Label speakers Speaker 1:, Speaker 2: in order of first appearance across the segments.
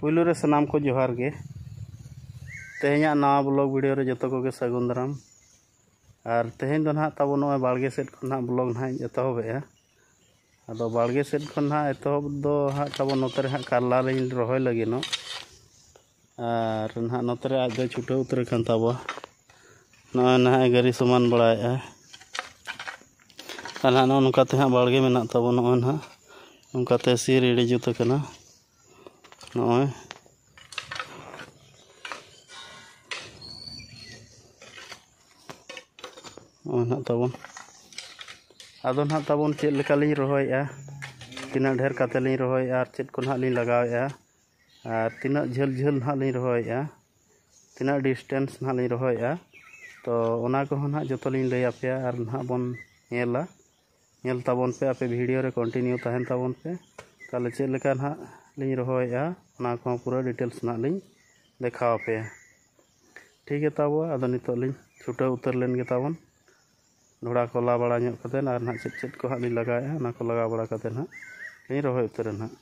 Speaker 1: ᱯᱩᱭᱞᱩ ᱨᱮ ᱥᱟᱱᱟᱢ ᱠᱚ ᱡᱚᱦᱟᱨ ᱜᱮ ᱛᱮᱦᱮᱧᱟᱜ ᱱᱟᱣᱟ ᱵᱞᱚᱜ ᱵᱷᱤᱰᱤᱭᱳ ᱨᱮ ᱡᱚᱛᱚ ᱠᱚᱜᱮ ᱥᱟᱹᱜᱩᱱ ᱫᱟᱨᱟᱢ ᱟᱨ ᱛᱮᱦᱮᱧ ᱫᱚ ᱱᱟᱦᱟᱜ ᱛᱟᱵᱚ ᱱᱚᱜᱼᱚᱭ ᱵᱟᱲᱜᱮ ᱥᱮᱫ ᱠᱷᱚᱱ ᱱᱟᱦᱟᱜ ᱵᱞᱚᱜ ᱱᱟᱦᱟᱜ ᱤᱧ ᱮᱛᱚᱦᱚᱵᱮᱜᱼᱟ ᱟᱫᱚ ᱵᱟᱲᱜᱮ ᱥᱮᱫ ᱠᱷᱚᱱ ᱱᱟᱦᱟᱜ ᱮᱛᱚᱦᱚᱵ ᱫᱚ ᱦᱟᱸᱜ ᱛᱟᱵᱚ ᱱᱚᱛᱮ ᱨᱮ ᱦᱟᱸᱜ ᱠᱟᱨᱞᱟ ᱞᱤᱧ ᱨᱚᱦᱚᱭ ᱞᱟᱹᱜᱤᱫᱚᱜ ᱟᱨ ᱱᱟᱦᱟᱜ ᱱᱚᱛᱮ ᱨᱮ ᱟᱡ ᱫᱚᱭ ᱪᱷᱩᱴᱟᱹᱣ ᱩᱛᱟᱹᱨ ᱟᱠᱟᱱ ᱛᱟᱵᱚᱣᱟ ᱱᱚᱜᱼᱚᱭ ᱱᱟᱦᱟᱜ ᱮ ᱜᱟᱹᱨᱤ ᱥᱚᱢᱟᱱ ᱵᱟᱲᱟᱭᱮᱫᱼᱟ ᱟᱨ ᱱᱟᱦᱟᱜ ᱱᱚᱜᱼᱚ ᱱᱚᱝᱠᱟ ᱛᱮ ᱦᱟᱸᱜ ᱵᱟᱲᱜᱮ ᱢᱮᱱᱟᱜ ᱛᱟᱵᱚ ᱱᱚᱜᱼᱚᱭ ᱱᱟᱦᱟᱜ ᱱᱚᱝᱠᱟᱛᱮ ᱥᱤ ᱨᱮᱰᱤ ᱡᱩᱛ ᱟᱠᱟᱱᱟ ᱱᱚᱜᱼᱚᱭ ᱱᱚᱜᱼᱚᱭ ᱱᱟᱦᱟᱜ ᱛᱟᱵᱚᱱ ᱟᱫᱚ ᱱᱟᱦᱟᱜ ᱛᱟᱵᱚᱱ ᱪᱮᱫ ᱞᱮᱠᱟᱞᱤᱧ ᱨᱚᱦᱚᱭᱮᱫᱼᱟ ᱛᱤᱱᱟᱹᱜ ᱰᱷᱮᱨ ᱠᱟᱛᱮᱫ ᱞᱤᱧ ᱨᱚᱦᱚᱭᱮᱫᱼᱟ ᱟᱨ ᱪᱮᱫ ᱠᱚ ᱱᱟᱦᱟᱜ ᱞᱤᱧ ᱞᱟᱜᱟᱣᱮᱫᱼᱟ ᱟᱨ ᱛᱤᱱᱟᱹᱜ ᱡᱷᱟᱹᱞ ᱡᱷᱟᱹᱞ ᱱᱟᱦᱟᱜ ᱞᱤᱧ ᱨᱚᱦᱚᱭᱮᱜᱼᱟ ᱛᱤᱱᱟᱹᱜ ᱰᱤᱥᱴᱮᱱᱥ ᱱᱟᱦᱟᱜ ᱞᱤᱧ ᱨᱚᱦᱚᱭᱮᱜᱼᱟ ᱛᱚ ᱚᱱᱟ ᱠᱚᱦᱚᱸ ᱱᱟᱦᱟᱜ ᱡᱚᱛᱚ ᱞᱤᱧ ᱞᱟᱹᱭ ᱟᱯᱮᱭᱟ ᱟᱨ ᱱᱟᱦᱟᱜ ᱵᱚᱱ ᱧᱮᱞᱟ ᱧᱮᱞ ᱛᱟᱵᱚᱱ ᱯᱮ ᱟᱯᱮ ᱵᱷᱤᱰᱤᱭᱳ ᱨᱮ ᱠᱚᱱᱴᱤᱱᱤᱭᱩ ᱛᱟᱦᱮᱱ ᱛᱟᱵᱚᱱ ᱯᱮ ᱛᱟᱦᱚᱞᱮ ᱪᱮᱫ ᱞᱮᱠᱟ ᱱᱟᱦᱟᱜ ᱞᱤᱧ ᱨᱚᱦᱚᱭᱮᱜᱼᱟ ᱚᱱᱟ ᱠᱚᱦᱚᱸ ᱯᱩᱨᱟᱹ ᱰᱤᱴᱮᱞᱥ ᱱᱟᱦᱟᱜ ᱞᱤᱧ ᱫᱮᱠᱷᱟᱣ ᱟᱯᱮᱭᱟ ᱴᱷᱤᱠ ᱜᱮᱛᱟ ᱵᱚ ᱟᱫᱚ ᱱᱤᱛᱚᱜ ᱞᱤᱧ ᱪᱷᱩᱴᱟᱹᱣ ᱩᱛᱟᱹᱨ ᱞᱮᱱ ᱜᱮᱛᱟᱵᱚᱱ ᱰᱷᱚᱲᱟ ᱠᱚ ᱞᱟ ᱵᱟᱲᱟ ᱧᱚᱜ ᱠᱟᱛᱮᱫ ᱟᱨ ᱱᱟᱦᱟᱜ ᱪᱮᱫ ᱪᱮᱫ ᱠᱚ ᱦᱟᱸᱜ ᱞᱤᱧ ᱞᱟᱜᱟᱣᱮᱫᱼᱟ ᱚᱱᱟ ᱠᱚ ᱞᱟᱜᱟᱣ ᱵᱟᱲᱟ ᱠᱟᱛᱮᱫ ᱱᱟᱦᱟᱜ ᱞᱤᱧ ᱨᱚᱦᱚᱭ ᱩᱛᱟᱹᱨᱟ ᱱᱟᱦᱟᱜ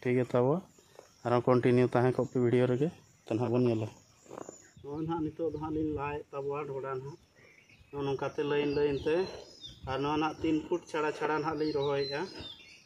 Speaker 1: ᱴᱷᱤᱠ ᱜᱮᱭᱟ ᱛᱟᱵᱚ ᱟᱨᱦᱚᱸ ᱠᱚᱱᱴᱤᱱᱤᱭᱩ ᱛᱟᱦᱮᱸ ᱠᱚᱜ ᱯᱮ ᱵᱷᱤᱰᱤᱭᱳ ᱨᱮᱜᱮ ᱛᱚ ᱱᱟᱦᱟᱜ ᱵᱚᱱ ᱧᱮᱞᱟ ᱱᱚᱜᱼᱚᱭ ᱱᱟᱦᱟᱜ ᱱᱤᱛᱚᱜ ᱫᱚ ᱦᱟᱸᱜ ᱞᱤᱧ ᱞᱟᱭᱮᱫ ᱛᱟᱵᱚᱣᱟ ᱰᱷᱚᱲᱟ ᱱᱟᱦᱟᱜ ᱱᱚᱜᱼᱚ ᱱᱚᱝᱠᱟᱛᱮ ᱞᱟᱹᱭᱤᱱ ᱞᱟᱹᱭᱤᱱ ᱛᱮ ᱟᱨ ᱱᱚᱣᱟ ᱱᱟᱦᱟᱜ ᱛᱤᱱ ᱯᱷᱩᱴ ᱪᱷᱟᱲᱟ ᱪᱷᱟᱲᱟ ᱱᱟᱦᱟᱜ ᱞᱤᱧ ᱨᱚᱦᱚᱭᱮᱫᱼᱟ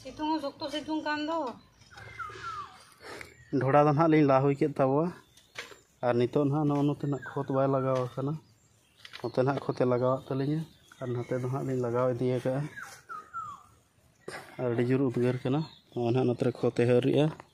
Speaker 1: ᱥᱤᱛᱩᱝ ᱦᱚᱸ ᱥᱚᱠᱛᱚ ᱥᱤᱛᱩᱝ ᱠᱟᱱ ᱫᱚ ᱰᱷᱚᱲᱟ ᱫᱚ ᱱᱟᱦᱟᱜ ᱞᱤᱧ ᱞᱟ ᱦᱩᱭ ᱠᱮᱫ ᱛᱟᱵᱚᱣᱟ ᱟᱨ ᱱᱤᱛᱚᱜ ᱱᱟᱦᱟᱜ ᱱᱚᱜᱼᱚ ᱱᱚᱛᱮ ᱱᱟᱜ ᱠᱷᱚᱛ ᱵᱟᱭ ᱞᱟᱜᱟᱣ ᱟᱠᱟᱱᱟ ᱱᱚᱛᱮ ᱱᱟᱦᱟᱜ ᱠᱷᱚᱛᱮ ᱞᱟᱜᱟᱣᱟᱜ ᱛᱟᱹᱞᱤᱧᱟ ᱟᱨ ᱱᱚᱛᱮ ᱫᱚ ᱱᱟᱦᱟᱜ ᱞᱤᱧ ᱞᱟᱜᱟᱣ ᱤᱫᱤ ᱟᱠᱟᱫᱼᱟ ᱟᱨ ᱟᱹᱰᱤ ᱡᱳᱨ ᱩᱫᱽᱜᱟᱹᱨ ᱠᱟᱱᱟ ᱱᱚᱜᱼᱚ ᱱᱟᱦᱟᱜ ᱱᱚᱛᱮ ᱨᱮ ᱠᱷᱚᱛᱮ ᱦᱟᱹᱨ ᱮᱫᱟ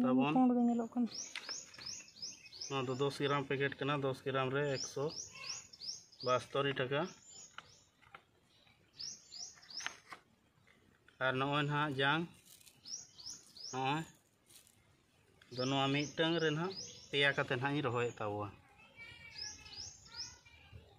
Speaker 1: ᱛᱟᱵᱚᱱ ᱱᱚᱣᱟ ᱫᱚ ᱫᱚᱥ ᱜᱨᱟᱢ ᱯᱮᱠᱮᱴ ᱠᱟᱱᱟ ᱫᱚᱥ ᱜᱨᱟᱢ ᱨᱮ ᱮᱠᱥᱚ ᱵᱟᱥᱛᱚᱨᱤ ᱴᱟᱠᱟ ᱟᱨ ᱱᱚᱜᱼᱚᱭ ᱱᱟᱦᱟᱜ ᱡᱟᱝ ᱱᱚᱜᱼᱚᱭ ᱫᱚ ᱱᱚᱣᱟ ᱢᱤᱫᱴᱟᱝ ᱨᱮ ᱱᱟᱦᱟᱜ ᱯᱮᱭᱟ ᱠᱟᱛᱮ ᱱᱟᱦᱟᱜ ᱤᱧ ᱨᱚᱦᱚᱭᱮᱫ ᱛᱟᱵᱚᱣᱟ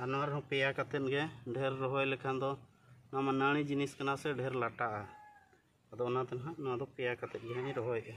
Speaker 1: ᱟᱨ ᱱᱚᱣᱟ ᱨᱮᱦᱚᱸ ᱯᱮᱭᱟ ᱠᱟᱛᱮᱫ ᱜᱮ ᱰᱷᱮᱨ ᱨᱚᱦᱚᱭ ᱞᱮᱠᱷᱟᱱ ᱫᱚ ᱱᱚᱣᱟ ᱢᱟ ᱱᱟᱹᱲᱤ ᱡᱤᱱᱤᱥ ᱠᱟᱱᱟ ᱥᱮ ᱰᱷᱮᱨ ᱞᱟᱴᱟᱜᱼᱟ ᱟᱫᱚ ᱚᱱᱟᱛᱮ ᱱᱟᱦᱟᱜ ᱱᱚᱣᱟ ᱫᱚ ᱯᱮᱭᱟ ᱠᱟᱛᱮᱫ ᱜᱮ ᱦᱟᱸᱜ ᱤᱧ ᱨᱚᱦᱚᱭᱮᱫᱼᱟ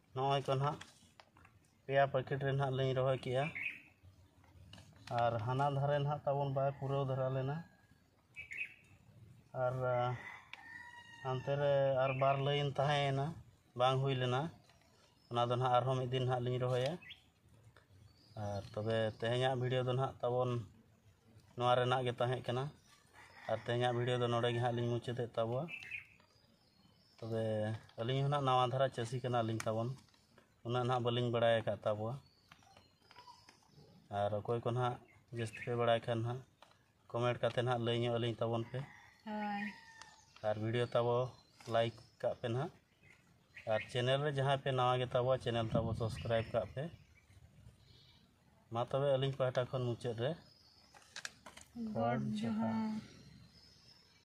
Speaker 1: ᱱᱚᱜᱼᱚᱭ ᱛᱚ ᱱᱟᱜ ᱯᱮᱭᱟ ᱯᱮᱠᱮᱴ ᱨᱮ ᱱᱟᱜ ᱞᱤᱧ ᱨᱚᱦᱚᱭ ᱠᱮᱜᱼᱟ ᱟᱨ ᱦᱟᱱᱟ ᱫᱷᱟᱨᱮ ᱱᱟᱜ ᱛᱟᱵᱚᱱ ᱵᱟᱭ ᱯᱩᱨᱟᱹᱣ ᱫᱷᱟᱨᱟ ᱞᱮᱱᱟ ᱟᱨ ᱦᱟᱱᱛᱮ ᱨᱮ ᱟᱨ ᱵᱟᱨ ᱞᱟᱹᱭᱤᱱ ᱛᱟᱦᱮᱸᱭᱮᱱᱟ ᱵᱟᱝ ᱦᱩᱭ ᱞᱮᱱᱟ ᱚᱱᱟ ᱫᱚ ᱱᱟᱜ ᱟᱨᱦᱚᱸ ᱢᱤᱫ ᱫᱤᱱ ᱱᱟᱜ ᱞᱤᱧ ᱨᱚᱦᱚᱭᱟ ᱟᱨ ᱛᱚᱵᱮ ᱛᱮᱦᱮᱧᱟᱜ ᱵᱷᱤᱰᱤᱭᱳ ᱫᱚ ᱱᱟᱜ ᱛᱟᱵᱚᱱ ᱱᱚᱣᱟ ᱨᱮᱱᱟᱜ ᱜᱮ ᱛᱟᱦᱮᱸ ᱠᱟᱱᱟ ᱟᱨ ᱛᱮᱦᱮᱧᱟᱜ ᱵᱷᱤᱰᱤᱭᱳ ᱫᱚ ᱱᱚᱰᱮ ᱜᱮ ᱦᱟᱸᱜ ᱞᱤᱧ ᱢᱩᱪᱟᱹᱫᱮᱫ ᱛᱟᱵᱚᱣᱟ ᱛᱚᱵᱮ ᱟᱹᱞᱤᱧ ᱦᱚᱸ ᱱᱟᱜ ᱱᱟᱣᱟ ᱫᱷᱟᱨᱟ ᱪᱟᱹᱥᱤ ᱠᱟᱱᱟᱞᱤᱧ ᱛᱟᱵᱚᱱ ᱩᱱᱟᱹᱜ ᱱᱟᱜ ᱵᱟᱹᱞᱤᱧ ᱵᱟᱲᱟᱭ ᱟᱠᱟᱫ ᱛᱟᱵᱚᱣᱟ ᱟᱨ ᱚᱠᱚᱭ ᱠᱚ ᱱᱟᱜ ᱡᱟᱹᱥᱛᱤ ᱯᱮ ᱵᱟᱲᱟᱭ ᱠᱷᱟᱱ ᱱᱟᱜ ᱠᱚᱢᱮᱱᱴ ᱠᱟᱛᱮ ᱱᱟᱜ ᱞᱟᱹᱭ ᱧᱚᱜ ᱟᱹᱞᱤᱧ ᱛᱟᱵᱚᱱ ᱯᱮ ᱦᱳᱭ ᱟᱨ ᱵᱷᱤᱰᱤᱭᱳ ᱛᱟᱵᱚ ᱞᱟᱭᱤᱠ ᱠᱟᱜ ᱯᱮ ᱱᱟᱜ ᱟᱨ ᱪᱮᱱᱮᱞ ᱨᱮ ᱡᱟᱦᱟᱸᱭ ᱯᱮ ᱱᱟᱣᱟ ᱜᱮᱛᱟᱵᱚᱣᱟ ᱪᱮᱱᱮᱞ ᱛᱟᱵᱚ ᱥᱟᱵᱥᱠᱨᱟᱭᱤᱵ ᱠᱟᱜ ᱯᱮ ᱢᱟ ᱛᱚᱵᱮ ᱟᱹᱞᱤᱧ ᱯᱟᱦᱴᱟ ᱠᱷᱚᱱ ᱢᱩᱪᱟᱹᱫ ᱨᱮ ᱜᱚᱰ ᱡᱚᱦᱟᱨ